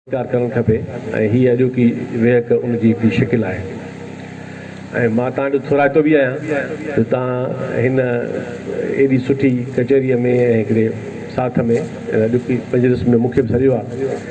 اختيار ڪرڻ کپي ۽ هيء اڄوڪي ويهڪ ان جي هڪڙي شڪل آهي ۽ مان توهان جو ٿورائتو به آهيان جو توهان هن ايڏي سٺي ڪچهريء ۾ ۽ هڪڙي ساٿ ۾ هن اڄوڪي مجلس ۾ مون کي به سڏيو آهي.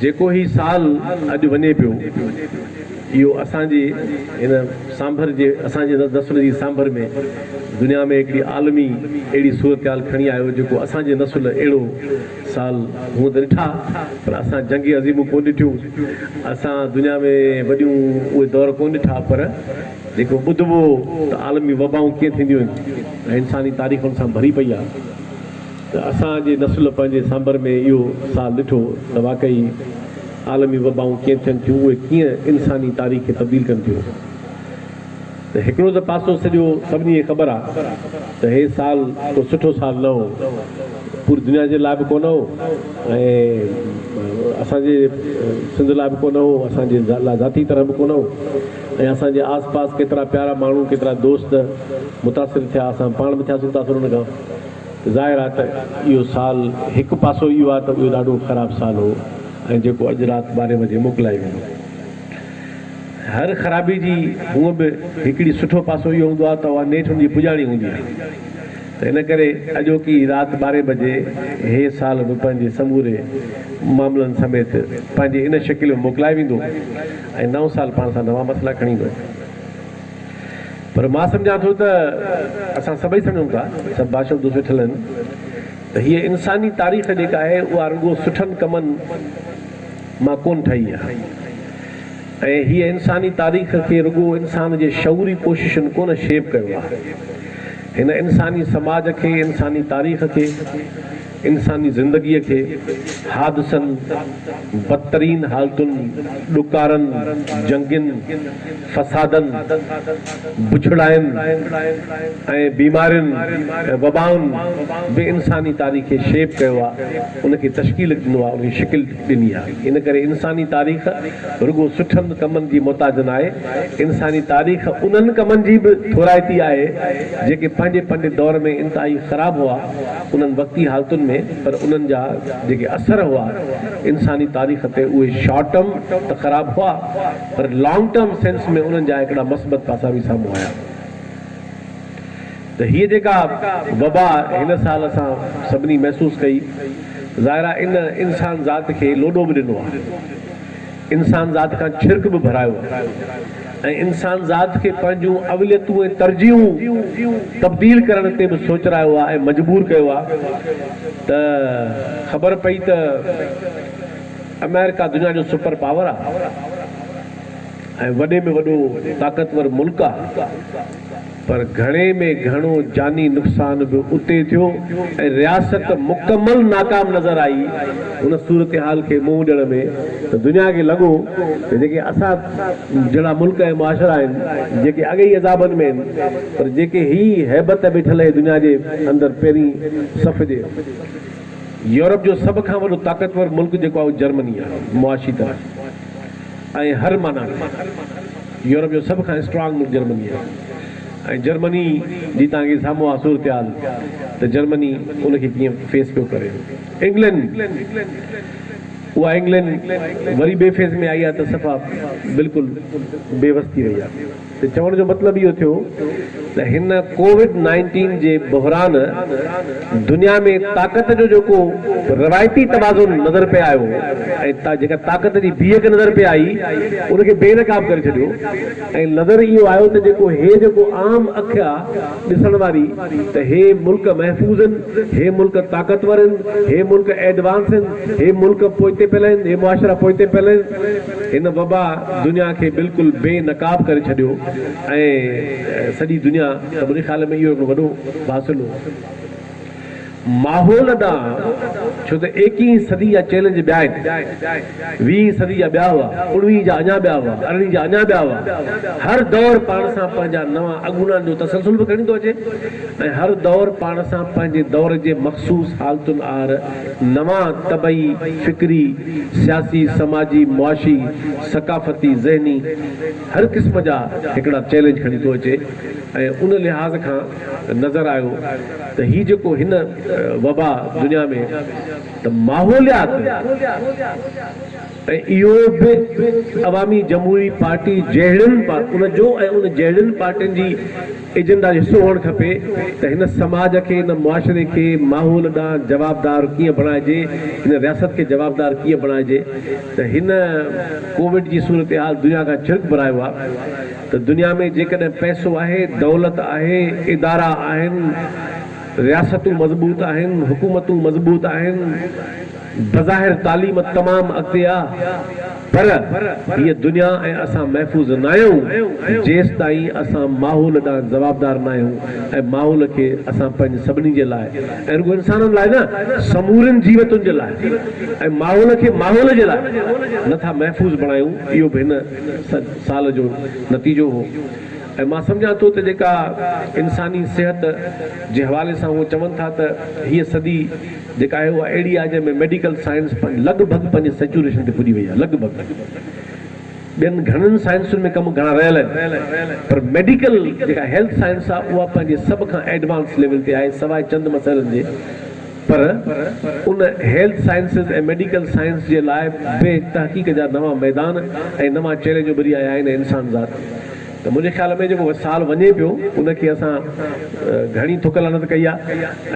جيڪو هي سال اڄ وڃي پيو، اهو اسان جي هن سانڀر جي اسان جي نسل جي سانڀر ۾ دنيا ۾ هڪڙي عالمي اهڙي صورتحال کڻي آيو جيڪو اسان جي نسل اهڙو سال هونء ته ڏٺا پر اسان جنگي عظيمون ڪونه ڏٺيون، اسان دنيا ۾ وڏيون اهي دور ڪونه ڏٺا پر جيڪو ٻڌبو ته عالمي وبائون ڪيئن ٿينديون آهن ۽ انساني تاريخ ان سان ڀري پئي آهي. ته اسان جي نسل پنهنجي سانڀر ۾ اهو سال ڏٺو ته واقعي عالمي وبائون ڪيئن ٿين ٿيون اهي ڪيئن انساني تاريخ کي تبديل ڪن ٿيون ته هڪڙو ته پاسو سڄو سڀني کي خبر آ ته هي سال ڪو سٺو سال نه هو پوري دنيا جي لاء به ڪو نه هو ۽ اسان جي سنڌ لاء به ڪو نه هو اسان جي لاء ذاتي طرح به ڪو نه هو ۽ اسان جي آس پاس ڪيترا پيارا ماڻهو ڪيترا دوست متاثر ٿيا اسان پاڻ به ٿياسون متاثر ان کان ظاهر آهي ته اهو سال هڪ پاسو اهو آهي ته اهو ڏاڍو خراب سال هو ۽ جيڪو اڄ رات ٻارهين بجي موڪلائي ويندو. هر خرابي جي هونء به هڪڙي سٺو پاسو اهو هوندو آهي ته اها نيٺ ان جي پڄاڻي هوندي آهي ته ان ڪري اڄوڪي رات ٻارهين بجي هي سال به پنهنجي سموري معاملن سميت پنهنجي ان شڪل ۾ موڪلائي ويندو ۽ نئون سال پاڻ سان نوان مسئلا کڻي ايندو. پر مان سمجهان ٿو ته اسان سڀئي سمجهون ٿا، سڀ ڀاشا اردو سکيل آهن ته هيء انساني تاريخ جيڪا آهي اها رڳو سٺن ڪمن مان ڪونه ٺهي آهي ۽ هيء انساني تاريخ کي رڳو انسان جي شعوري ڪوششن ڪونه شيپ ڪيو آهي. هن انساني سماج کي، انساني تاريخ کي، انساني زندگيء کي حادثن، بدترين حالتن، ڏڪارن، جنگين، فسادن، بڇڙاين ۽ بيمارين ۽ وبائن به انساني تاريخ کي شيپ ڪيو آ، ان کي تشڪيل ڏنو آ، ان کي شڪل ڏني آ. ان ڪري انساني تاريخ رڳو سٺن ڪمن جي محتاج ناهي، انساني تاريخ انهن ڪمن جي به ٿورائتي آهي، جيڪي پنهنجي پنهنجي دور ۾ انتهائي خراب هئا. انهن وقتي حالتن ۾ پر انهن جا جيڪي اثر هئا انساني تاريخ تي اهي شارٽ ٽرم ته خراب هئا پر لانگ ٽرم سينس ۾ انهن جا هڪڙا مثبت پاسا به سامهون آيا ته هيء جيڪا وبا هن سال اسان سڀني محسوس ڪئي ظاهر آهي ان انسان ذات کي لوڏو به ڏنو آهي. انسانذات کان ڇرڪ به ڀرايو ۽ انسانذات کي پنهنجون اوليتون ۽ ترجيحون تبديل ڪرڻ تي به سوچرايو آ ۽ مجبور ڪيو آ ته خبر پئي ته آمريڪا دنيا جو سپر پاور آ ۽ وڏي ۾ وڏو طاقتور ملڪ آ. پر گهڻي ۾ گهڻو جاني نقصان به اتي ٿيو ۽ رياست مڪمل ناڪام نظر آئي. هن صورتحال کي منهن ڏيڻ ۾ دنيا کي لڳو ته جيڪي اسان جهڙا ملڪ ۽ معاشرا آهن، جيڪي اڳ ئي عذابن ۾ آهن، پر جيڪي هي هيبت بيٺل آهي دنيا جي اندر پهرين صف جي، يورپ جو سڀ کان وڏو طاقتور ملڪ جيڪو آهي اهو جرمني آهي، معاشي طرح. ۽ هر معنيٰ ۾ يورپ جو سڀ کان اسٽرانگ ملڪ جرمني آهي ۽ جرمني جي توهان کي سامهون آهي صورتحال ته جرمني ان کي ڪيئن فيس پيو ڪري. انگلينڊ اها انگلينڊ وري ٻئي فيز ۾ آئي آهي ته صفا بلڪل بي وس ٿي وئي آهي. ته چوڻ جو مطلب اهو ٿيو ته هن ڪووڊ نائنٽين جي بحران دنيا ۾ طاقت جو جيڪو روايتي توازن نظر پئي آيو ۽ جيڪا طاقت جي بيهڪ نظر پئي آئي ان کي بي نقاب ڪري ڇڏيو ۽ نظر اهو آيو ته جيڪو هي جيڪو عام اک آ ڏسڻ واري ته هي ملڪ محفوظ هن هي ملڪ طاقتور هن هي ملڪ ايڊوانس هن هي ملڪ پوئتي پيل هن هي معاشرا پوئتي پيل هن. هن وبا دنيا کي بلڪل بي نقاب ڪري ڇڏيو ۽ سڄي دنيا ته منهنجي خيال ۾ اهو هڪڙو وڏو واصل هو ماحول ڏانهن ڇو ته ايڪيهين صدي جا چئلينج ٻيا آهن ويهين صدي جا ٻيا هئا اڻويهين جا اڃا ٻيا هئا ارڙهين جا اڃا ٻيا هئا هر دور پاڻ سان پنهنجا نوان اڳوڻان جو تسلسل به کڻي ٿو اچي ۽ هر دور پاڻ سان پنهنجي دور جي مخصوص حالتن آهر نوان طبعي، فڪري، سياسي، سماجي، معاشي، ثقافتي، ذهني هر قسم جا هڪڙا چئلينج کڻي ٿو اچي ۽ ان لحاظ کان نظر آيو ته هي جيڪو هن وبا دنيا ۾ ته ماحوليات ۽ اهو به عوامي جمهوري پارٽي جهڙين ان جو ۽ ان جهڙين پارٽين جي ايجنڊا جو حصو هئڻ کپي ته هن سماج کي، هن معاشري کي ماحول ڏانهن جوابدار ڪيئن بڻائجي، هن رياست کي جوابدار ڪيئن بڻائجي ته هن ڪووڊ جي صورتحال دنيا کان ڇرڪ ڀرايو آهي ته دنيا ۾ جيڪڏهن پئسو آهي، دولت آهي، ادارا آهن، رياستون مضبوط آهن، حڪومتون مضبوط آهن، بظاهر تعليم تمام اڳتي آ پر هيء دنيا ۽ اسان محفوظ ناهيون جيستائين اسان ماحول ڏانهن جوابدار ناهيون ۽ ماحول کي اسان پنهنجي سڀني جي لاء ۽ رڳو انسانن لاء نه سمورين جيوتن جي لاء ۽ ماحول کي ماحول جي لاء نه ٿا محفوظ بڻايون اهو به هن سال جو نتيجو هو ۽ مان سمجهان ٿو ته جيڪا انساني صحت جي حوالي سان هو چون ٿا ته هيء صدي جيڪا آهي اها اهڙي آهي جنهن ۾ ميڊيڪل سائنس لڳ ڀڳ پنهنجي سيچوريشن تي پڄي وئي آهي لڳ ڀڳ ٻين گهڻن سائنسن ۾ ڪم گهڻا رهيل آهن پر ميڊيڪل جيڪا هيلٿ سائنس آهي اها پنهنجي سڀ کان ايڊوانس ليول تي آهي سواء چند مسئلن جي پر ان هيلٿ سائنسز ۽ ميڊيڪل سائنس جي لاء به تحقيق جا نوان ميدان ۽ نوان چئلينج اڀري آيا آهن ۽ انسان ذات ته منهنجي خيال ۾ جيڪو سال وڃي پيو ان کي اسان گهڻي ٿڪ لعنت ڪئي آ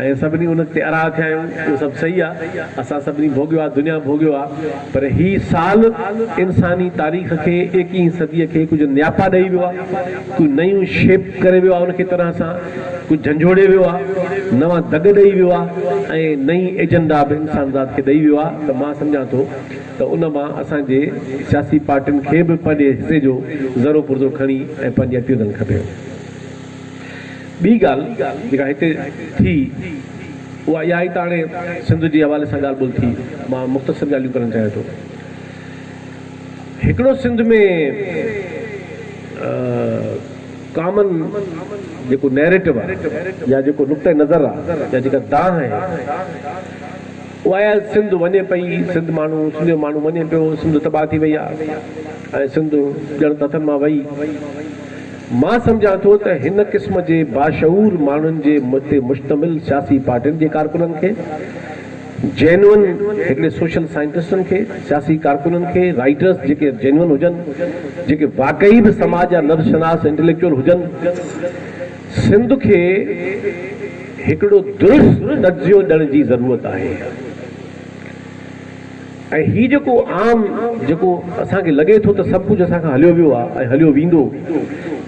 ۽ سڀني ان تي اراء ٿيا آهيون اهو سڀ صحيح آ اسان سڀني ڀوڳيو آ دنيا ڀوڳيو آ پر هي سال انساني تاريخ کي ايڪيهين صدي کي ڪجهه نياپا ڏئي ويو آ ڪجهه نيون شيپ ڪري ويو آ ان کي طرح سان ڪجهه جهنجهوڙي ويو آ نوان دڳ ڏئي ويو آ ۽ نئين ايجنڊا به انسانذات کي ڏئي ويو آ ته مان سمجهان ٿو ته ان مان اسان جي سياسي پارٽين کي به پنهنجي حصي جو ذرو پرزو کڻي ۽ پنهنجي اٽيون ڏيڻ کپي. ٻي ڳالهه جيڪا هتي ٿي اها اها آهي ته هاڻي سنڌ جي حوالي سان ڳالهه ٻولهه ٿي مان مختصر ڳالهيون ڪرڻ چاهيان ٿو. هڪڙو سنڌ ۾ ڪامن جيڪو نيريٽو آهي يا جيڪو نقطه نظر آهي يا جيڪا دانهن آهي واء سنڌ وڃي پئي سنڌ ماڻهو سنڌ جو ماڻهو وڃي پيو سنڌ تباهه ٿي وئي آهي ۽ سنڌ ڄڻ ته هٿن مان وئي مان سمجهان ٿو ته هن قسم جي باشعور ماڻهن جي تي مشتمل سياسي پارٽين جي ڪارڪنن کي جينون هڪڙي سوشل سائنٽسٽن کي سياسي ڪارڪنن کي رائيٽرس جيڪي جينون هجن جيڪي واقعي به سماج جا نبض شناس انٽليڪچوئل هجن سنڌ کي هڪڙو درست تجزيو ڏيڻ جي ضرورت آهي ۽ هي جيڪو عام جيڪو اسان کي لڳي ٿو ته سڀ ڪجهه اسان کان هليو ويو آهي ۽ هليو ويندو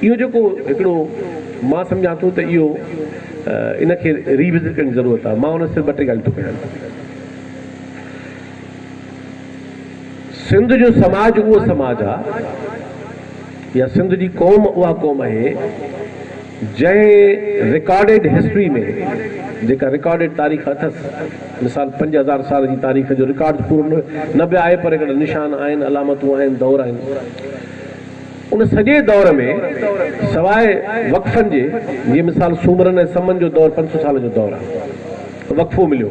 اهو جيڪو هڪڙو مان سمجهان ٿو ته اهو ان کي ري وزٽ ڪرڻ جي ضرورت آهي مان ان صرف ٻه ٽي ڳالهيون ٿو ڪيان سنڌ جو سماج اهو سماج آهي يا سنڌ جي قوم اها قوم آهي جنهن رڪارڊيڊ هسٽري ۾ جيڪا رڪارڊيڊ تاريخ اٿس مثال پنج هزار سال جي تاريخ جو رڪارڊ ته پورو نه به آهي پر هڪڙا نشان آهن علامتون آهن دور آهن ان سڄي دور ۾ سواء وقفن جي جي مثال سومرن ۽ سمن جو دور پنج سو سال جو دور آهي وقفو مليو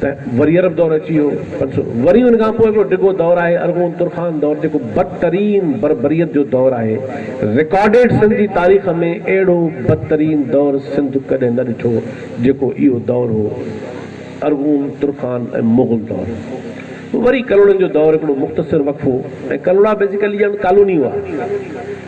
ته وري عرب دور اچي ويو پنج سؤ وري ان کان پوء هڪڙو ڊگهو دور آهي ارغون ترخان دور جيڪو بدترين بربريت جو دور آهي رڪارڊيڊ سنڌ جي تاريخ ۾ اهڙو بدترين دور سنڌ ڪڏهن نه ڏٺو جيڪو اهو دور هو ارغون ترخان ۽ مغل دور وري ڪلهوڙن جو دور هڪڙو مختصر وقفو ۽ ڪلهوڙا بيسيڪلي ڄڻ ڪالوني هئا.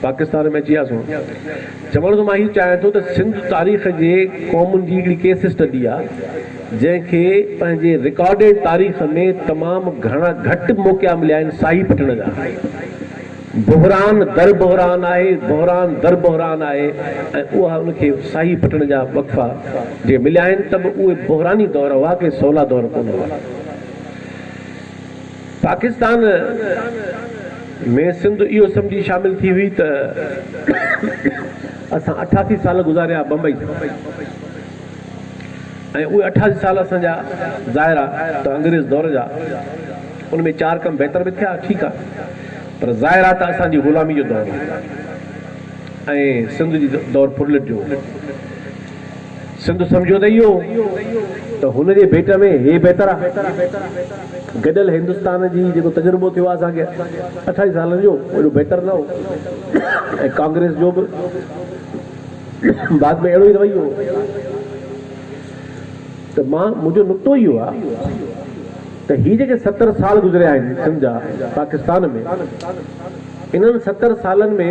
پاڪستان ۾ اچي آسون چوڻ ته مان هي چاهيان ٿو ته سنڌ تاريخ جي قومن جي هڪڙي ڪيس اسٽڊي آ جنهن کي پنهنجي رڪارڊيڊ تاريخ ۾ تمام گهڻا گهٽ موقعا مليا آهن ساهي پٽڻ جا بحران در بحران آهي بحران در بحران آهي ۽ اها ان کي ساهي پٽڻ جا وقفا جي مليا آهن ته به اهي بحراني دور هئا ڪي سولا دور ڪونه هئا پاڪستان ۾ سنڌ اهو سمجهي شامل ٿي هئي ته اسان اٺاسي سال گذاريا بمبئي ۾ ۽ اهي اٺاسي سال اسان جا ظاهر آ ته انگريز دور جا ان ۾ چار ڪم بهتر به ٿيا ٺيڪ آ پر ظاهر آ ته اسان جي غلامي جو دور هو ۽ سنڌ جي دور ڦرلٽ جو هو. سنڌ سمجهيو ته اهو ته هن جي ڀيٽ ۾ هي بهتر آ. گڏيل هندستان جي جيڪو تجربو ٿيو آ اسان کي اٺائي سالن جو اهو ايڏو بهتر نه هو ۽ ڪانگريس جو به بعد ۾ اهڙو ئي رويو هو ته مان منهنجو نقطو اهو آ ته هي جيڪي ستر سال گذريا آهن سنڌ جا پاڪستان ۾ انهن ستر سالن ۾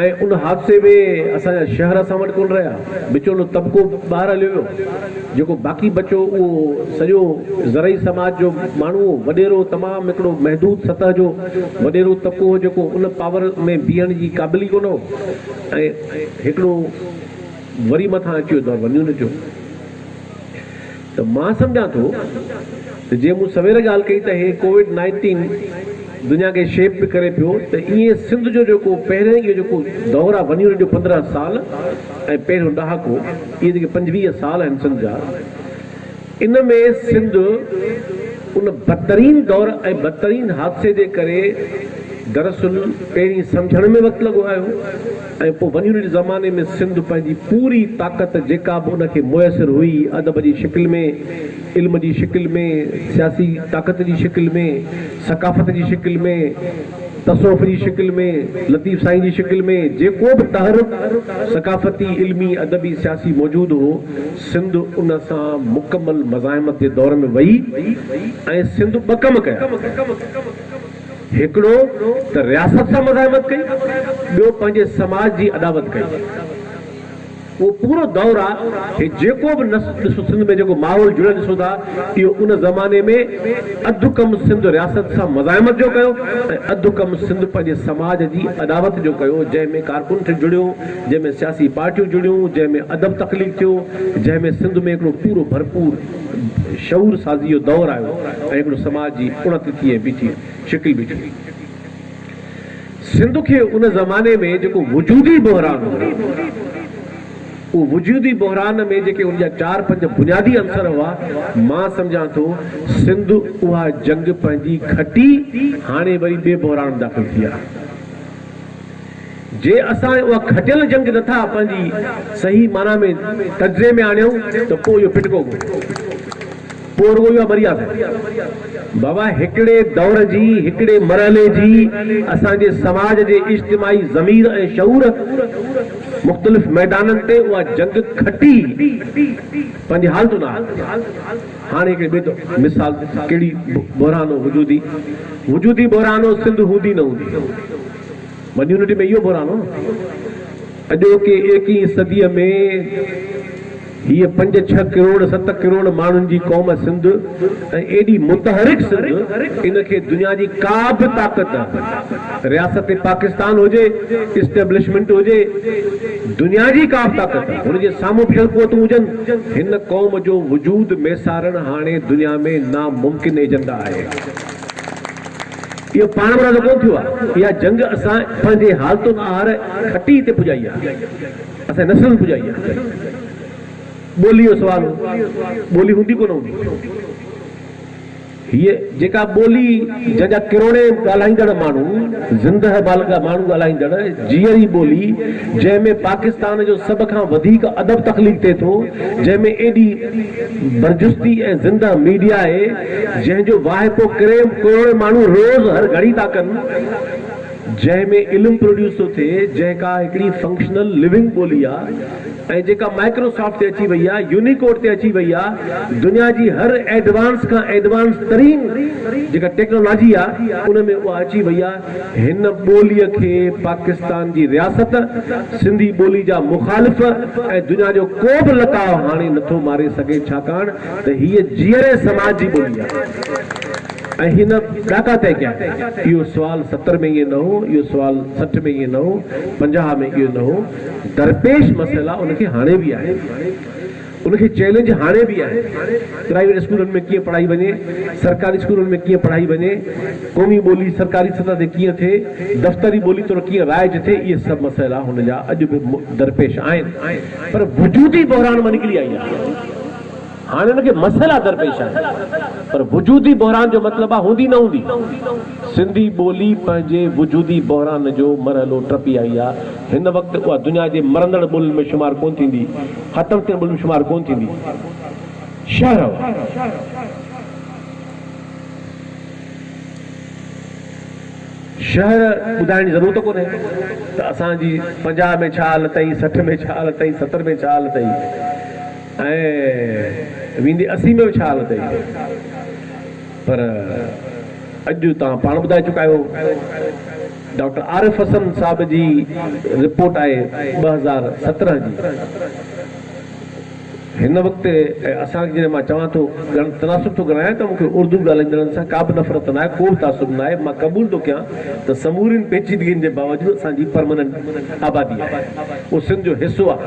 ۽ ان حادثي ۾ اسان جا شهر اسان وٽ ڪونه رهيا، وچولو طبقو ٻاهر هليو ويو، جيڪو باقي بچو اهو سڄو زرعي سماج جو ماڻهو هو، وڏيرو تمام هڪڙو محدود سطح جو وڏيرو طبقو هو جيڪو ان پاور ۾ بيهڻ جي قابل ئي ڪونه هو ۽ هڪڙو وري مٿان اچيو دور ونيون نٽيو. ته مان سمجهان ٿو ته جيئن مون سوير ڳالهه ڪئي ته هي ڪووڊ نائنٽين دنيا کي شيپ به ڪري پيو ته ايئن سنڌ جو جيڪو پهرين اهو جيڪو دور آهي ونيون جو پندرهن سال ۽ پهريون ڏهاڪو اهي جيڪي پنجويهه سال آهن سنڌ جا ان ۾ سنڌ ان بدترين دور ۽ بدترين حادثي جي ڪري دراصل پهرين سمجهڻ ۾ وقت لڳو آهيو ۽ پوء ونيون ريڊ زماني ۾ سنڌ پنهنجي پوري طاقت جيڪا به ان کي ميسر هئي ادب جي شڪل ۾، علم جي شڪل ۾، سياسي طاقت جي شڪل ۾، ثقافت جي شڪل ۾، تصوف جي شڪل ۾، لطيف سائين جي شڪل ۾، جيڪو به تحرڪ ثقافتي، علمي، ادبي، سياسي موجود هو، سنڌ ان سان مڪمل مزاحمت جي دور ۾ وئي ۽ سنڌ ٻه ڪم ڪيا. هڪڙو ته رياست سان مزاحمت ڪئي، ٻيو پنهنجي سماج جي اڏاوت ڪئي. اهو پورو دور آ، هي جيڪو به نس ڏسو سنڌ ۾ جيڪو ماحول جڙيل ڏسو ٿا، اهو ان زماني ۾ اڌ ڪم سنڌ رياست سان مزاحمت جو ڪيو ۽ اڌ ڪم سنڌ پنهنجي سماج جي اڏاوت جو ڪيو، جنهن ۾ ڪارڪن ٿي جڙيو، جنهن ۾ سياسي پارٽيون جڙيون، جنهن ۾ ادب تخليق ٿيو، جنهن ۾ سنڌ ۾ هڪڙو پورو ڀرپور. شعور سازيء جو دور آيو ۽ هڪڙو سماج جي اڻت ٿي ۽ بيٺي شڪل بيٺي هئي. سنڌ کي ان زماني ۾ جيڪو وجودي بحران هو، اهو وجودي بحران ۾ جيڪي ان جا چار پنج بنيادي عنصر هئا، مان سمجهان ٿو سنڌ اها جنگ پنهنجي گهٽي، هاڻي وري ٻئي بحران ۾ داخل ٿي آهي. جي اسان اها کٽيل جنگ نٿا پنهنجي صحيح معنيٰ ۾ تجزئي ۾ آڻيون ته پوء اهو ڦٽڪو ڪونهي، پوء رڳو اهو آهي مريا فير. بابا هڪڙي دور جي، هڪڙي مرحلي جي اسان جي سماج جي اجتماعي ضمير ۽ شعور مختلف ميدانن تي اها جنگ کٽي پنهنجي حالتون آڻي. هاڻي هڪڙي ٻئي طور مثال ڪهڙي بحران هو وجودي وجودي بحران هو سنڌ هوندي نه هوندي ون يونٽي ۾ اهو بحران هو نه اڄوڪي ايڪيهين صدي ۾ هيء پنج ڇهه ڪروڙ ست ڪروڙ ماڻهن جي قوم سنڌ ۽ ايڏي متحرڪ سنڌ ان کي دنيا جي ڪا به طاقت رياست پاڪستان هجي اسٽيبلشمنٽ هجي دنيا جي ڪا به طاقت هن جي سامهون بيهل قوتون هجن هن قوم جو وجود ميسارڻ هاڻي دنيا ۾ ناممڪن ايجنڊا آهي. اهو پاڻ مرادو ڪونه ٿيو آهي. اها جنگ اسان پنهنجي حالتن آهر کٽيء تي پڄائي آهي. اسان جي نسلن پڄائي آهي. ٻوليء جو سوال هو. ٻولي هوندي ڪونه هوندي. هيء جيڪا ٻولي جنهن جا ڪروڙين ڳالهائيندڙ ماڻهو، زندهه بالغ ماڻهو ڳالهائيندڙ، جيئري ٻولي، جنهن ۾ پاڪستان جو سڀ کان وڌيڪ ادب تخليق ٿئي ٿو، جنهن ۾ ايڏي برجستي ۽ زندهه ميڊيا آهي، جنهن جو واهپو ڪرين ڪروڙين ماڻهو روز هر گهڙي ٿا ڪن، جنهن ۾ علم پروڊيوس ٿو ٿئي، جنهن ڪا هڪڙي فنڪشنل ليونگ ٻولي آ ۽ جيڪا مائڪرو سافٽ تي اچي وئي آ، يونيڪوڊ تي اچي وئي آ، دنيا جي هر ايڊوانس کان ايڊوانس ترين جيڪا ٽيڪنالاجي آ، ان ۾ اها اچي وئي آ، هن ٻوليء کي پاڪستان جي رياست، سنڌي ٻولي جا مخالف ۽ دنيا جو ڪو به لتاء هاڻي نٿو ماري سگهي، ڇاڪاڻ ته هيء جيئري سماج جي ٻولي آ. ۽ هن ڏاڪا طئي ڪيا. اهو سوال ستر ۾ ائين نه هو، اهو سوال سٺ ۾ ائين نه هو، پنجاهه ۾ اهو نه هو. درپيش مسئلا ان کي هاڻي به آهن. ان کي چئلينج هاڻي به آهن. پرائيويٽ اسڪولن ۾ ڪيئن پڙهائي وڃي، سرڪاري اسڪولن ۾ ڪيئن پڙهائي وڃي، قومي ٻولي سرڪاري سطح تي ڪيئن ٿئي، دفتري ٻولي طور ڪيئن رائج ٿئي، اهي سڀ مسئلا هن جا اڄ به درپيش آهن. پر وجودي بحران مان نڪري آئي آهي. هاڻي ان کي مسئلا درپيش آهن پر وجودي بحران جو مطلب آهي هوندي نه هوندي. سنڌي ٻولي پنهنجي وجودي بحران جو مرحلو ٽپي آئي آهي. هن وقت اها دنيا جي مرندڙ ٻولين ۾ شمار ڪونه ٿيندي. ختم ٿيندڙ ٻولين ۾ شمار ڪونه ٿيندي. شهر ٻڌائڻ جي ضرورت ڪونهي ته اسان جي پنجاهه ۾ ڇا حالت هئي، سٺ ۾ ڇا حالت هئي، ستر ۾ ڇا حالت هئي. ۽ ويندي اسي ۾ به ڇا حالت هئي پر اڄ توهان پاڻ ٻڌائي چڪا آهيو ڊاڪٽر عارف حسن صاحب جي رپورٽ آهي ٻه هزار سترهن جي هن وقت ۽ اسان کي جڏهن مان چوان ٿو تناسب ٿو ڳڻايان ته مون کي اردو ڳالهائيندڙن سان ڪا به نفرت ناهي ڪو به تعصب ناهي مان قبول ٿو ڪيان ته سمورين پيچيدگين جي باوجود اسان جي پرماننٽ آبادي آهي اهو سنڌ جو حصو آهي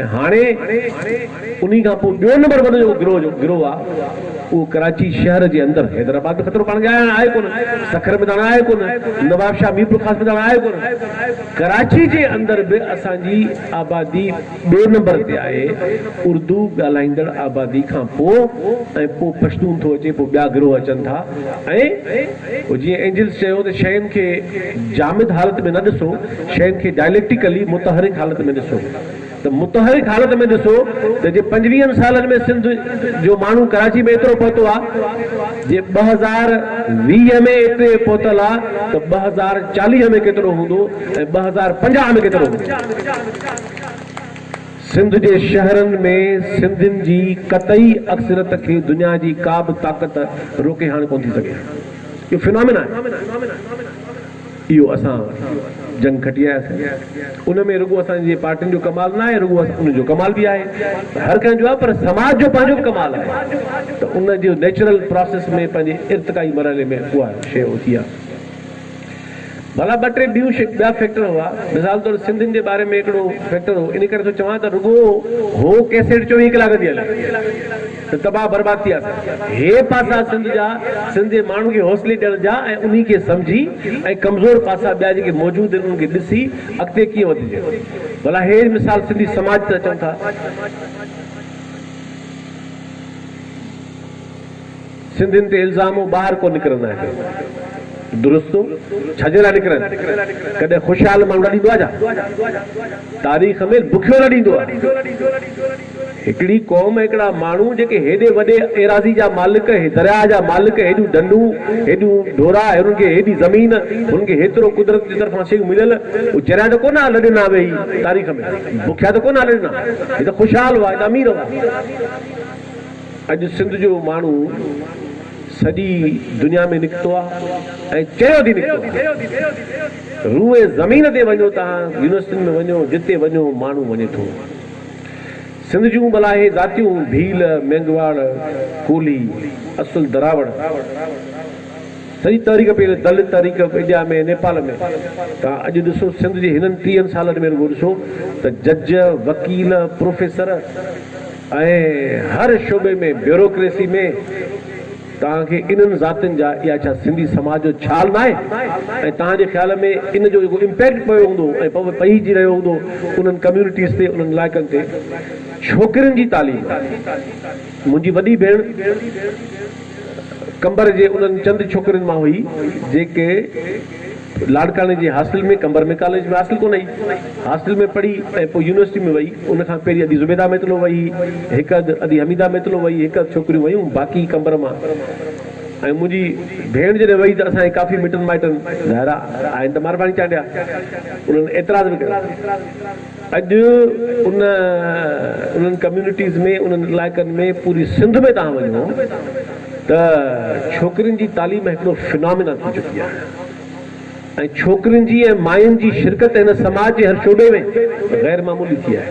۽ هاڻي انهي کان پوء ٻيو نمبر وڏو جيڪو گروهه آ اهو ڪراچي شهر جي اندر حيدرآباد ۾ خطرو پاڻ کي آهي هاڻ آهي ڪونه سکر ۾ ته هاڻ آهي ڪونه نوابشاهه ميرپورخاص ۾ ته هاڻ آهي ڪونه ڪراچي جي اندر به اسان جي آبادي ٻي نمبر تي آهي اردو ڳالهائيندڙ آبادي کان پوء ۽ پوء پشتون ٿو اچي پوء ٻيا گروهه اچن ٿا ۽ جيئن اينجلز چيو ته شين کي جامد حالت ۾ نه ڏسو، شين کي ڊائليڪٽيڪلي متحرڪ حالت ۾ ڏسو ته متحرڪ حالت ۾ ڏسو ته جي پنجويهن سالن ۾ سنڌ جو ماڻهو ڪراچي ۾ ايترو پهتو آ، جي ٻه هزار ويهه ۾ ايتري پهتل آ ته ٻه هزار چاليهه ۾ ڪيترو هوندو ۽ ٻه هزار پنجاهه ۾ ڪيترو هوندو. سنڌ جي شهرن ۾ سنڌين جي قطعي اڪثريت کي دنيا جي ڪا به طاقت روڪي هاڻ ڪونه ٿي سگهي. اهو فنامنا آهي. اهو اسان جنگ کٽي آياسين. ان ۾ رڳو اسان جي پارٽين جو ڪمال نه آهي رڳو ان جو ڪمال به آهي هر ڪنهن جو آهي پر سماج جو پنهنجو به ڪمال آهي ته ان جو نيچرل پراسيس ۾ پنهنجي ارتقائي مرحلي ۾ اها شيء اٿي آهي. ڀلا ٻه ٽي ٻيون ٻيا فيڪٽر هئا. مثال طور سنڌين جي باري ۾ هڪڙو فيڪٽر هو. ان ڪري ٿو چوان ته رڳو هو ڪيسيٽ چوويهه ڪلاڪ ٿي هلي ته تباهه برباد ٿي وياسين. هي پاسا سنڌ جا سنڌ جي ماڻهن کي حوصلي ڏيڻ جا ۽ انهي کي سمجهي ۽ ڪمزور پاسا ٻيا جيڪي موجود آهن انهن کي ڏسي اڳتي ڪيئن وڌجي. ڀلا هي مثال سنڌي سماج تي اچون ٿا. سنڌين تي الزامون ٻاهر ڪو نڪرندا آهن درستو ڇجي لاء نڪرن ڪڏهن خوشحال ماڻهو لڏيندو آهي ڇا تاريخ ۾ بکيو لڏيندو آهي هڪڙي قوم هڪڙا ماڻهو جيڪي هيڏي وڏي ايراضي جا مالڪ درياهه جا مالڪ هيڏيون ڍنڍون هيڏيون ڍورا هنن کي هيڏي زمين هنن کي هيترو قدرت جي طرفان شيون مليل هو چريا ته ڪونه لڏنا ويهي تاريخ ۾ بکيا ته ڪونه لڏنا هي ته خوشحال هئا هي ته امير هئا اڄ سنڌ جو ماڻهو سڄي دنيا ۾ نڪتو آهي ۽ چيو ٿي نڪتو آهي. روئي زمين تي وڃو توهان يونيورسٽين ۾ وڃو جتي وڃو ماڻهو وڃي ٿو. سنڌ جون ٻلاهي ذاتيون ڀيل، مينگهواڙ، ڪولهي، اصل دراوڙ سڄي تحريڪ پيل دلت تحريڪ اڊيا ۾ نيپال ۾ توهان اڄ ڏسو سنڌ جي هنن ٽيهن سالن ۾ رڳو ڏسو ته جج، وڪيل، پروفيسر، ۽ هر شعبي ۾ بيوروڪريسي ۾ توهان کي انهن ذاتين جا اها ڇا سنڌي سماج جو ڇال ناهي ۽ توهان جي خيال ۾ ان جو جيڪو امپيڪٽ پيو هوندو ۽ پئجي رهيو هوندو انهن ڪميونٽيز تي انهن علائقن تي ڇوڪرين جي تعليم منهنجي وڏي ڀيڻ قمبر جي انهن چند ڇوڪرين مان هئي جيڪي لاڙڪاڻي جي هاسٽل ۾ قمبر ۾ ڪاليج ۾ هاسٽل ڪونه هئي. هاسٽل ۾ پڙهي ۽ پوء يونيورسٽي ۾ وئي. ان کان پهرين ادي زبيده ميتلو وئي هئي. هڪ اڌ ادي حميده ميتلو وئي هئي. هڪ اڌ ڇوڪريون ويون باقي قمبر مان ۽ منهنجي ڀيڻ جڏهن وئي ته اسان جي ڪافي مٽن مائٽن ظاهر آهي آهن ته مارباڻي چانڊيا انهن اعتراض به ڪيو. اڄ ان انهن ڪميونٽيز ۾ انهن علائقن ۾ پوري سنڌ ۾ توهان وڃو ته ڇوڪرين جي تعليم هڪڙو فنامنا ٿي چڪي آهي ۽ ڇوڪرين جي ۽ ماين جي شرڪت هن سماج جي هر شعبي ۾ غير معمولي ٿي آهي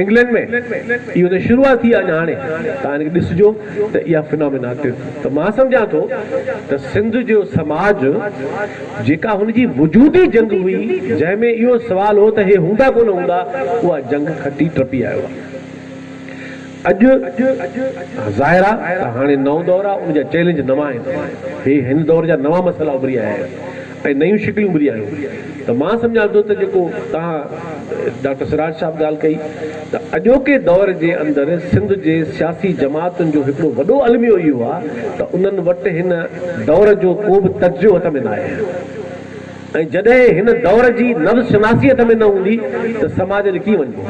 انگلينڊ ۾ اهو ته شروعات ٿي آهي هاڻي توهان هن کي ڏسجو ته اها فنامينا ڪيو ته مان سمجهان ٿو ته سنڌ جو سماج جيڪا هن جي وجودي جنگ هئي جنهن ۾ اهو سوال هو ته هي هوندا ڪونه هوندا اها جنگ کٽي ٽپي آيو آهي اڄ ظاهر آ ته هاڻي نئون دور آ ان جا چئلينج نوان آهن هي هن دور جا نوان مسئلا اڀري آيا آهن ۽ نيون شڪليون اڀري آيون ته مان سمجهان ٿو ته جيڪو توهان ڊاڪٽر سراج صاحب ڳالهه ڪئي ته اڄوڪي دور جي اندر سنڌ جي سياسي جماعتن جو هڪڙو وڏو الميو اهو آ ته انهن وٽ هن دور جو ڪو به تجزيو هٿ ۾ ناهي ۽ جڏهن هن دور جي نبض شناسي هٿ ۾ نه هوندي ته سماج ڏي ڪيئن وڃبو.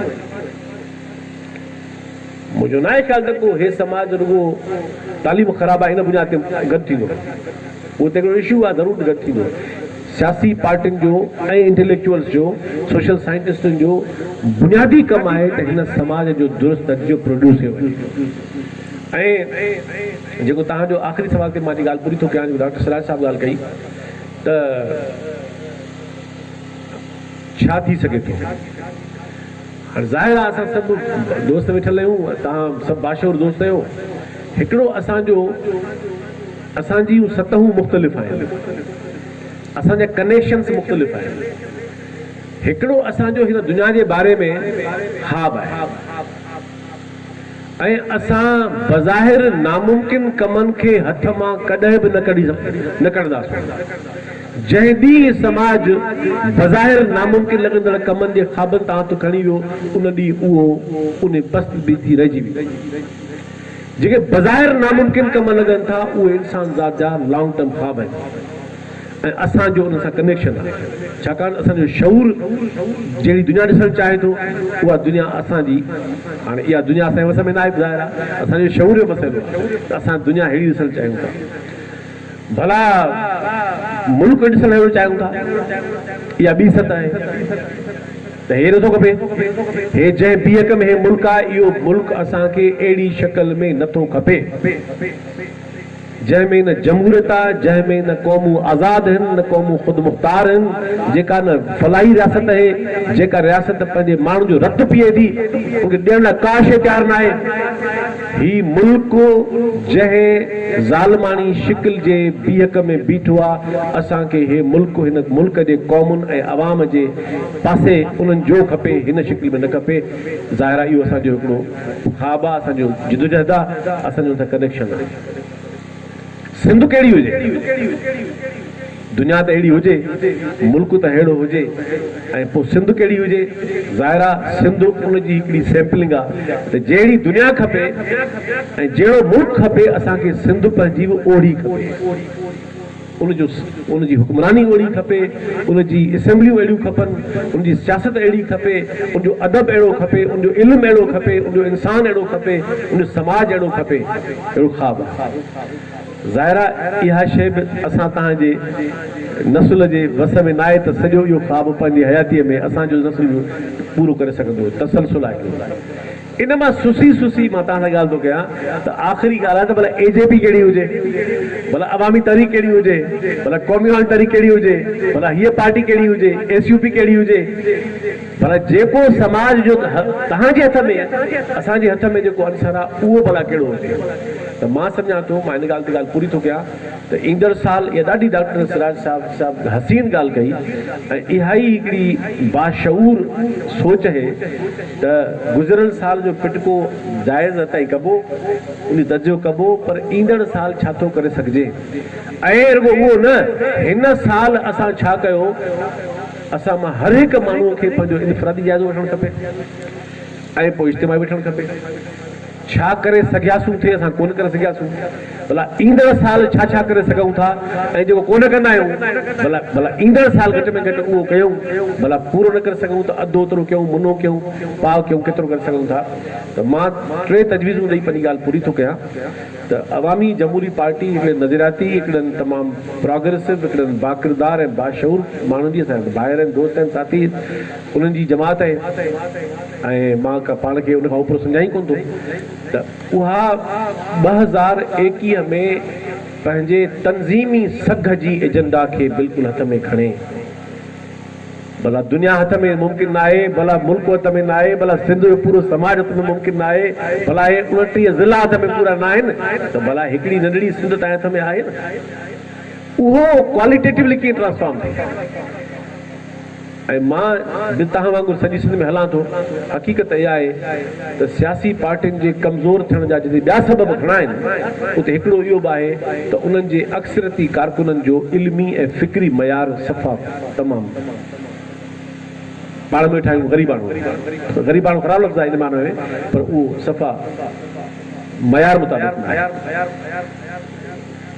منهنجو ناهي خيال ته ڪو هي سماج رڳو تعليم خراب آهي ان بنياد تي گڏ ٿيندو. اهو ته هڪڙو اشو آهي ضرور گڏ ٿيندو. سياسي پارٽين جو ۽ انٽليڪچوئلز جو، سوشل سائنٽسٽن جو بنيادي ڪم آهي ته هن سماج جو درست نتيجو پروڊيوس ڪيو وڃي. ۽ جيڪو توهان جو آخري سوال تي مان جي ڳالهه پوري ٿو ڪيان جيڪو ڊاڪٽر سراج صاحب ڳالهه ڪئي ته ڇا ٿي سگهي ٿو. هاڻ ظاهر آ اسان سڀ دوست ويٺل آهيون توهان سڀ باشعور دوست آهيو هڪڙو اسان جو اسان جيون سطحون مختلف آهن اسان جا ڪنيڪشنس مختلف آهن هڪڙو اسان جو هن دنيا جي باري ۾ حاب آهي. ۽ اسان بظاهر ناممڪن ڪمن کي هٿ مان ڪڏهن به نه ڪڍنداسون. جنهن ڏينهن هي سماج بظاهر ناممڪن لڳندڙ ڪمن جي خوابن تان هٿ کڻي ويو، ان ڏينهن اهو انهي بست به ٿي رهجي ويندو. جيڪي بظاهر ناممڪن ڪم لڳن ٿا، اهي انسان ذات جا لانگ ٽرم خواب آهن. ۽ اسان جو انهن سان ڪنيڪشن آهي ڇاڪاڻ اسان جو شعور جهڙي دنيا ڏسڻ چاهي ٿو اها دنيا اسان جي هاڻي اها دنيا اسان جي وس ۾ ناهي ظاهر آهي اسان جو شعور جو مسئلو آهي ته اسان دنيا ههڙي ڏسڻ چاهيون ٿا ڀلا ملڪ ڏسڻ ههڙو چاهيون ٿا اها ٻي سٽ آهي ته هي نٿو کپي هي جنهن بيهڪ ۾ هي ملڪ آهي اهو ملڪ اسان کي اهڙي شڪل ۾ نٿو کپي جنهن ۾ نه جمهوريت آ، جنهن ۾ نه قومون آزاد هن، نه قومون خودمختار هن، جيڪا نه فلاحي رياست اهي، جيڪا رياست پنهنجي ماڻهن جو رت پيئي ٿي، ان کي ڏيڻ لاء ڪا شيء تيار ناهي. هي ملڪ جنهن ظالماڻي شڪل جي بيهڪ ۾ بيٺو آ، اسان کي هي ملڪ هن ملڪ جي قومن ۽ عوام جي پاسي انهن جو کپي، هن شڪل ۾ نه کپي. ظاهر آ اهو اسان جو هڪڙو ها ڀاء اسان جو جدوجهد آ اسان جو انسان ڪنيڪشن آ سنڌ ڪهڙي هجي دنيا ته اهڙي هجي ملڪ ته ههڙو هجي ۽ پو سنڌ ڪهڙي هجي ظاهر آ سنڌ ان جي هڪڙي سيمپلنگ آ ته جهڙي دنيا کپي ۽ جهڙو ملڪ کپي اسان کي سنڌ پنهنجي به اوهڙي کپي. ان جو ان جي حڪمراني اوهڙي کپي، ان جي اسيمبليون اهڙيون کپن، ان جي سياست اهڙي کپي، ان جو ادب اهڙو کپي، ان جو علم اهڙو کپي، ان جو انسان اهڙو کپي، ان جو سماج اهڙو کپي. اهڙو خواب آهي. ظاهر آهي اها شيء به اسان توهان جي نسل جي وس ۾ ناهي ته سڄو اهو خواب پنهنجي حياتيء ۾ اسان جو نسل به پورو ڪري سگهندو. تسلسل آهي. ان مان سسي سسي مان توهان سان ڳالهه ٿو ڪيان ته آخري ڳالهه آهي ته ڀلا اي جي پي ڪهڙي هجي ڀلا عوامي تحريڪ ڪهڙي هجي ڀلا قومي عوامي تحريڪ ڪهڙي هجي ڀلا هيء پارٽي ڪهڙي هجي ايس يو پي ڪهڙي هجي ڀلا جيڪو سماج جو توهان جي هٿ ۾ اسان جي هٿ ۾ جيڪو عنصر آهي اهو ڀلا ڪهڙو هجي ته مان سمجهان ٿو مان ان ڳالهه تي ڳالهه پوري ٿو ڪيان ته ايندڙ سال اها ڏاڍي ڊاڪٽر سراج صاحب صاحب حسين ڳالهه ڪئي ۽ اها ئي هڪڙي باشعور سوچ اهي ته گذريل سال جو پٽڪو جائزه تائين ڪبو ان جو تجزيو ڪبو پر ايندڙ سال ڇا ٿو ڪري سگهجي ۽ رڳو اهو نه هن سال اسان ڇا ڪيو اسان مان هر هڪ ماڻهو کي پنهنجو انفرادي جائزو وٺڻ کپي ۽ پوء اجتماعي وٺڻ کپي. ڇا ڪري سگهياسون ٿي اسان ڪونه ڪري سگهياسون ڀلا ايندڙ سال ڇا ڇا ڪري سگهون ٿا ۽ جيڪو ڪونه ڪندا آهيون ڀلا ڀلا ايندڙ سال گهٽ ۾ گهٽ اهو ڪيون ڀلا پورو نه ڪري سگهون ته اڌ اوترو ڪيون منو ڪيون پاء ڪيون ڪيترو ڪري سگهون ٿا ته مان ٽي تجويزون ڏئي پنهنجي ڳالهه پوري ٿو ڪيان ته عوامي جمهوري پارٽي هڪڙي نظرياتي هڪڙن تمام پراگريسو هڪڙن باڪردار ۽ باشعور ماڻهن جي اسان جا ڀائر آهن دوست آهن ساٿي انهن جي جماعت آهي ۽ مان ڪا پاڻ کي ان کان اوپرو سمجهان ئي ڪونه ٿو ته اها ٻه هزار ايڪيهه ۾ پنهنجي تنظيمي سگهه جي ايجنڊا کي بلڪل هٿ ۾ کڻي ڀلا دنيا هٿ ۾ ممڪن ناهي ڀلا ملڪ هٿ ۾ ناهي ڀلا سنڌ جو پورو سماج هٿ ۾ ممڪن ناهي ڀلا اهي اڻٽيهه ضلعا هٿ ۾ پورا ناهن ته ڀلا هڪڙي ننڍڙي سنڌ تنهنجي هٿ ۾ آهي نه اهو ڪواليٽيٽولي ڪيئن ٽرانسفارم ٿئي. ۽ مان به توهان وانگر سڄي سنڌ ۾ هلان ٿو، حقيقت اها آهي ته سياسي پارٽين جي ڪمزور ٿيڻ جا جتي ٻيا سبب گهڻا آهن، اتي هڪڙو اهو به آهي ته انهن جي اڪثريتي ڪارڪنن جو علمي ۽ فڪري معيار صفا تمام پاڙ ميٺ آهيون غريباڻو، غريباڻو خراب لفظ آهي ان معنيٰ ۾ پر اهو صفا معيار مطابق ناهي.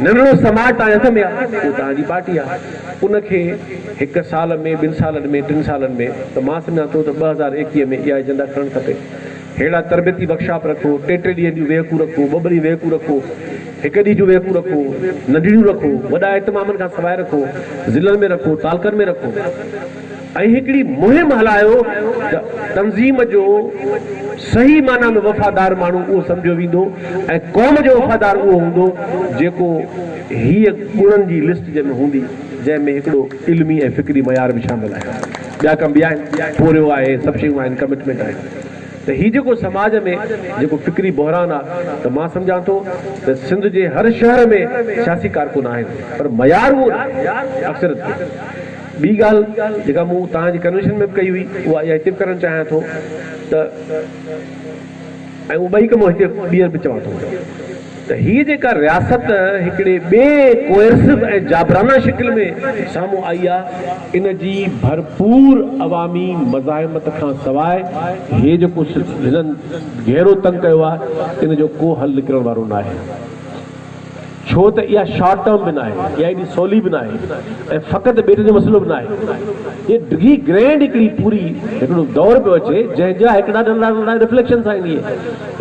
ننڍڙو سماٽ تنهنجي هٿ ۾ آ، اهو تنهن جي پارٽي آ، ان کي هڪ سال ۾ ٻن سالن ۾ ٽن سالن ۾ ته مان سمجهان ٿو ته ٻه هزار ايڪيهه ۾ اها ايجنڊا کڻڻ کپي. ههڙا تربيتي ورڪشاپ رکو، ٽي ٽي ڏينهن جون ويهڪون رکو، ٻه ٻه ڏينهن ويهڪون رکو، هڪ ڏينهن جون ويهڪون رکو، ننڍڙيون رکو، وڏا اهتمامن کان سواء رکو، ضلعن ۾ رکو، تعلقن ۾ رکو. ۽ هڪڙي مهم هلايو ته تنظيم جو صحيح معنيٰ ۾ وفادار ماڻهو اهو سمجهيو ويندو ۽ قوم جو وفادار اهو هوندو جيڪو هيء گڻن جي لسٽ جنهن ۾ هوندي جنهن ۾ هڪڙو علمي ۽ فڪري معيار به شامل آهي ٻيا ڪم به آهن پورهيو آهي سڀ شيون آهن ڪمٽمينٽ آهي ته هي جيڪو سماج ۾ جيڪو فڪري بحران آهي ته مان سمجهان ٿو ته سنڌ جي هر شهر ۾ سياسي ڪارڪن آهن پر معيار اهو ناهي اڪثريت ڪو ٻي ڳالهه جيڪا مون توهان جي ڪنويشن ۾ به ڪئي هئي اها اها هتي به ڪرڻ چاهيان ٿو ته ۽ اهي ٻئي ڪم هتي ٻيهر به چوان ٿو ته هيء جيڪا رياست هڪڙي ٻئي ڪوئرسو ۽ جابرانه شڪل ۾ سامهون آئي آ ان جي ڀرپور عوامي مزاحمت کان سواء هيء جيڪو هنن گهيرو تنگ ڪيو آ ان جو ڪو حل نڪرڻ وارو ناهي. ڇو ته اها شارٽ ٽرم به ناهي، اها ايڏي سولي به ناهي ۽ فقط ٻيٽن جو مسئلو به ناهي. هيء ڊگهي گرينڊ هڪڙي پوري هڪڙو دور پيو اچي، جنهن جا هڪڙا ننڍڙا ننڍڙا رفليڪشن سان ايندي.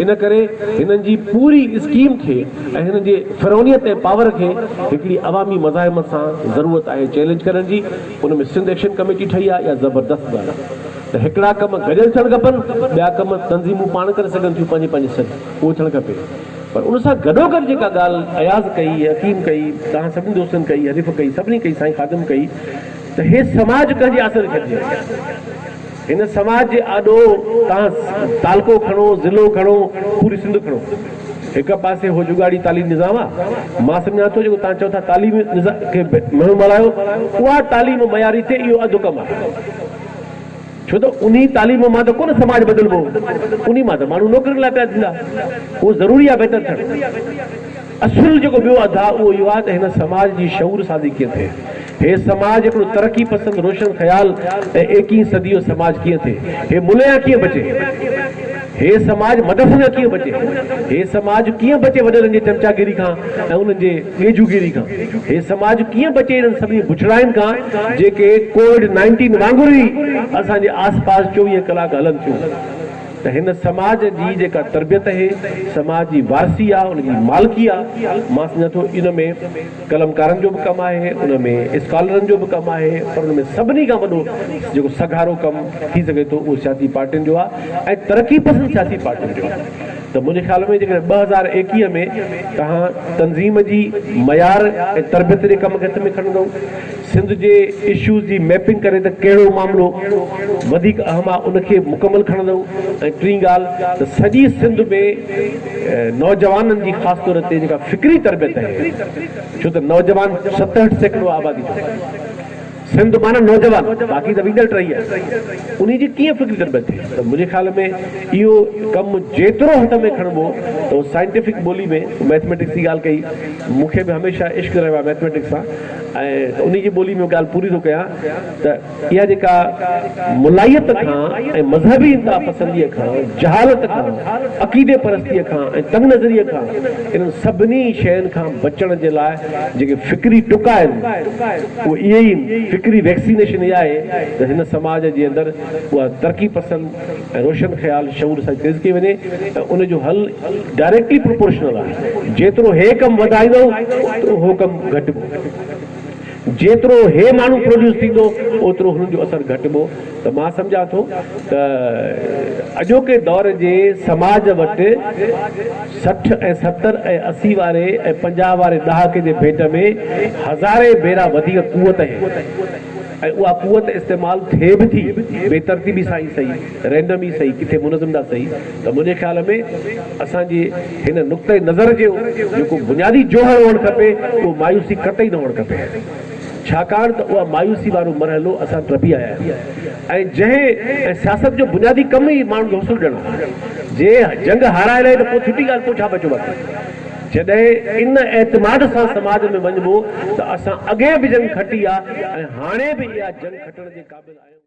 ان ڪري هنن جي پوري اسڪيم کي ۽ هنن جي فرعونيت ۽ پاور کي هڪڙي عوامي مزاحمت سان ضرورت آهي چئلينج ڪرڻ جي. ان ۾ سنڌ ايڪشن ڪميٽي ٺهي آهي، اها زبردست ڳالهه آهي ته هڪڙا ڪم گڏيل ٿيڻ کپن، ٻيا ڪم تنظيمون پاڻ ڪري سگهن ٿيون پنهنجي پنهنجي سر اهو ٿيڻ کپي. پر ان سان گڏوگڏ جيڪا ڳالهه اياز ڪئي، حڪيم ڪئي، توهان سڀني دوستن ڪئي، حنيف ڪئي، سڀني ڪئي، سائين خادم ڪئي ته هي سماج ڪنهن جي آسري ڇڏجي وڃي. هن سماج جي آڏو توهان تعلقو کڻو، ضلعو کڻو، پوري سنڌ کڻو. هڪ پاسي هو جوڳاڙي تعليم نظام آ، مان سمجهان ٿو جيڪو توهان چئو ٿا تعليم نظام کي منهن مارايو، اها تعليم معياري ٿئي اهو اڌ ڪم آ. ڇو ته انهي تعليم مان ته ڪونه سماج بدلبو، انهي مان ته ماڻهو نوڪرين لاء پيدا ٿيندا. اهو ضروري آهي بهتر ٿيڻ. اصل جيڪو ٻيو اڌ آهي اهو اهو آهي ته هن سماج جي شعور سازي ڪيئن ٿئي. هي سماج هڪڙو ترقي پسند روشن خيال ۽ ايڪيهين صدي جو سماج ڪيئن ٿئي. هي مليان ڪيئن بچي. هي سماج مدرسن کان ڪيئن بچي؟ هي سماج ڪيئن بچي وڏڙن جي چمچاگيري کان ۽ انهن جي ڳيجهوگيري کان؟ هي سماج ڪيئن بچي انهن سڀني بڇڙاين کان جيڪي ڪووڊ نائنٽين وانگر ئي اسان جي آس پاس چوويهه ڪلاڪ هلن ٿيون ته هن سماج جي جيڪا تربيت هي سماج جي وارثي آ ان جي مالڪي آ مان سمجهان ٿو ان ۾ قلمڪارن جو به ڪم آهي، ان ۾ اسڪالرن جو به ڪم آهي پر ان ۾ سڀني کان وڏو جيڪو سگهارو ڪم ٿي سگهي ٿو اهو سياسي پارٽين جو آهي ۽ ترقي پسند سياسي پارٽين جو آهي ته منهنجي خيال ۾ جيڪڏهن ٻه هزار ايڪيهه ۾ توهان تنظيم جي معيار ۽ تربيت جي ڪم کي هٿ ۾ کڻندؤ سنڌ جي اشوز جي ميپنگ ڪري ته ڪهڙو معاملو وڌيڪ اهم آ ان کي مڪمل کڻندو ۽ ٽين ڳالهه ته سڄي سنڌ ۾ نوجوانن جي خاص طور تي جيڪا فڪري تربيت اهي ڇو ته نوجوان ستهٺ سيڪڙو آبادي جو سنڌ معنيٰ نوجوان باقي ته ويڳل ٽهي آهي انهي جي ڪيئن فڪري تربيت ٿئي ته منهنجي خيال ۾ اهو ڪم جيترو هٿ ۾ کڻبو ته سائنٽيفڪ ٻولي ۾ مئٿميٽڪس جي ڳالهه ڪئي مون کي به هميشه عشق رهيو آهي مئٿميٽڪس سان ۽ انهي جي ٻولي ۾ ڳالهه پوري ٿو ڪيان ته اها جيڪا ملائيت کان ۽ مذهبي انتها پسنديء کان جهالت کان عقيدي پرستيء کان ۽ تنگ نظريء کان انهن سڀني شين کان بچڻ جي لاء جيڪي فڪري ٽڪا آهن اهي ئي فڪري ويڪسينيشن اها آهي ته هن سماج جي اندر اها ترقي پسند ۽ روشن خيال شعور سان تيز ڪئي وڃي ۽ ان جو حل ڊائريڪٽلي پروپورشنل آهي جيترو هي ڪم وڌائيندؤ اوترو هو ڪم گهٽبو جيترو هي ماڻهو پروڊيوس ٿيندو اوترو هن جو اثر گهٽبو ته مان سمجهان ٿو ته اڄوڪي دور جي سماج وٽ سٺ ۽ ستر ۽ اسي واري ۽ پنجاهه واري ڏهاڪي جي ڀيٽ ۾ هزارين ڀيرا وڌيڪ قوت ۽ ۽ اها قوت استعمال ٿئي به ٿي بي ترتيبي سان ئي سهي، رينڊم ئي سهي، ڪٿي منظم ڏانهن سهي ته منهنجي خيال ۾ اسان جي هن نقطه نظر جو جيڪو بنيادي جوهر هئڻ کپي اهو مايوسي قطعي نه هئڻ کپي ڇاڪاڻ ته اها مايوسي وارو مرحلو اسان ٽپي آيا آهيون ۽ جنهن ۽ سياست جو بنيادي ڪم ئي ماڻهن کي حوصلو ڏيڻ آهي جي جنگ هارائي لهي ته پوء ڇٽي ڳالهه پوء ڇا بچيو باقي. جڏهن ان اعتماد سان سماج ۾ وڃبو ته اسان اڳي به جنگ کٽي آ ۽ هاڻي به اها جنگ کٽڻ جي قابل آهيون.